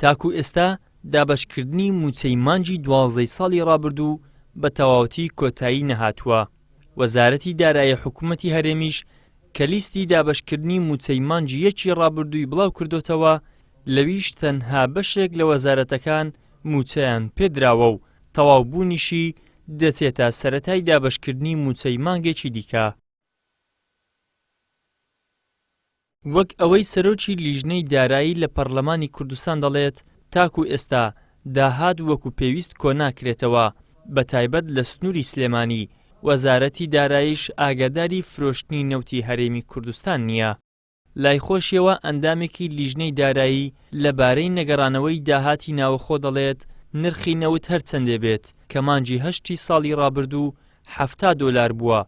تاکو ئێستا دابەشکردنی مووچەی مانگی دوازدەی ساڵی ڕابردوو بە تەواوەتی کۆتایی نەهاتووە، وەزارەتی دارایی حکوومەتی هەرێمیش کە لیستی دابەشکردنی مووچەی مانگی یەکی ڕابردووی بڵاو کردۆتەوە لەویش تەنها بەشێک لە وەزارەتەکان مووچەیان پێدراوە و تەواوبوونیشی دەچێتە سەرەتای دابەشکردنی مووچەی مانگێکی دیکە. وەک ئەوەی سەرۆکی لیژنەی دارایی لە پەڕلەمانی کوردستان دەڵێت، تاکو ئێستا داهات وەکو پێویست کۆناکرێتەوە، بەتایبەت لە سنوری سلێمانی، وەزارەتی داراییش ئاگاداری فرۆشتنی نەوتی هەرێمی کوردستان نییە. لای خۆشیەوە ئەندامێکی لیژنەی دارایی لە بارەی نەگەڕانەوەی داهاتی ناوەخۆ دەڵێت نرخی نەوت هەرچەندێ بێت کە مانگی هەشتی ساڵی ڕابردوو حەفتا دۆلار بووە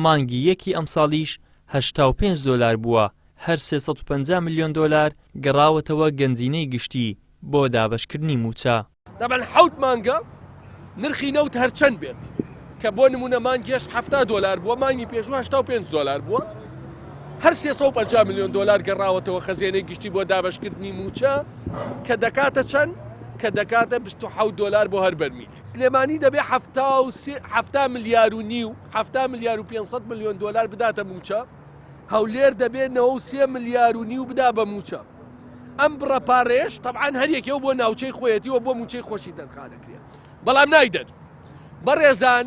مانگی یەکی ئەمساڵیش هەشتا و پێنج دۆلار بووە هەر سێ سەد و پەنجا ملیۆن دۆلار گەڕاوەتەوە گەنجینەی گشتی بۆ دابەشکردنی مووچە. تەبعەن حەوت مانگە نرخی نەوت هەرچەند بێت کە بۆ نمونە مانگێش هەفتا دۆلار بووە مانگی پێشوو هەشتا و پێنج دۆلار بووە هەر سێ سەد و پەنجا میلیۆن دۆلار گەڕاوەتەوە خەزێنەی گشتی بۆ دابەشکردنی مووچە کە دەکاتە چەند کە دەکاتە 27 دۆلار بۆ هەر بەرمیل سلێمانی دەبێ هەفتا و سێ- هەفتا ملیار و نیو هەفتا ملیار و 500 میلیۆن دۆلار بداتە مووچە هەولێر دەبێ نەوە و سێ ملیار و نیو بدا بە مووچە. ئەم بڕە پارەیەش تەبعەن هەر یەکێو بۆ ناوچەی خۆیەتی و بۆ مووچەی خۆشی تەرخان دەکرێ. بەڵام نایدەن. بەڕێزان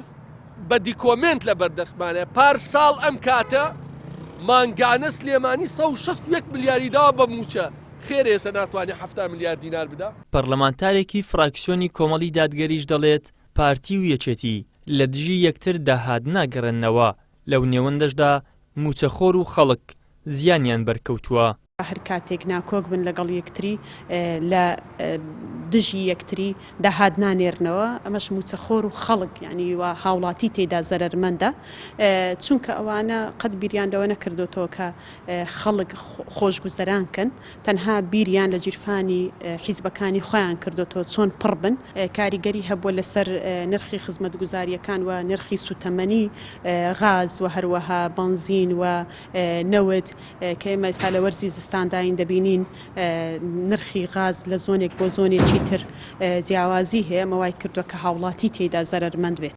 بە دیکۆمێنت لە بەردەستمانە پار ساڵ ئەم کاتە مانگانە سلێمانی سەد و شەست و یەک ملیاری داوە بە مووچە، خێرە ئێستا ناتوانێ حەفتا ملیار دینار بدا؟ پەڕلەمانتارێکی فڕاکسیۆنی کۆمەڵی دادگەریش دەڵێت، پارتی و یەکێتی لە دژی یەکتر داهات ناگەڕێننەوە. لەو نێوەندەشدا مووچەخۆر و خەڵک زیانیان بەرکەوتووە. هەر کاتێک ناکۆک بن لەگەڵ یەکتری لە دژی یەکتری داهات نانێرنەوە، ئەمەش مووچەخۆر و خەڵک یانی وا هاوڵاتی تێیدا زەرەرمەندە، چونکە ئەوانە قەت بیریان لەوە نەکردۆتەوە کە خەڵک خۆشگوزەران کەن، تەنها بیریان لە گیرفانی حیزبەکانی خۆیان کردۆتەوە چۆن پڕ بن، کاریگەری هەبووە لەسەر نرخی خزمەتگوزارییەکان و نرخی سووتەمەنی غاز و هەروەها بەنزین و نەوت کە ئێمە ئێستا لە وەرزی زستانداین دەبینین نرخی غاز لە زۆنێک بۆ زۆنێکی تر جیاوازی هەیە ئەمە وای کردووە کە هاوڵاتی تێیدا زەرەرمەند بێت.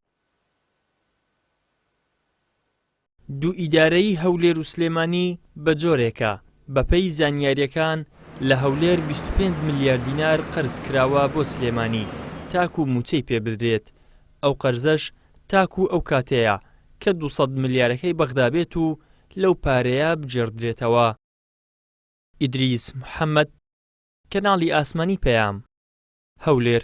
دوو ئیدارەیی هەولێر و سلێمانی بەجۆرێکە، بەپێی زانیارییەکان لە هەولێر بیست و پێنج ملیار دینار قەرز کراوە بۆ سلێمانی تاکوو مووچەی پێ بدرێت، ئەو قەرزەش تاکوو ئەو کاتەیە کە دوو سەد ملیارەکەی بەغدا بێت و لەو پارەیە بگێڕدرێتەوە. ئیدریس محەمەد، کەناڵی ئاسمانی پەیام، هەولێر.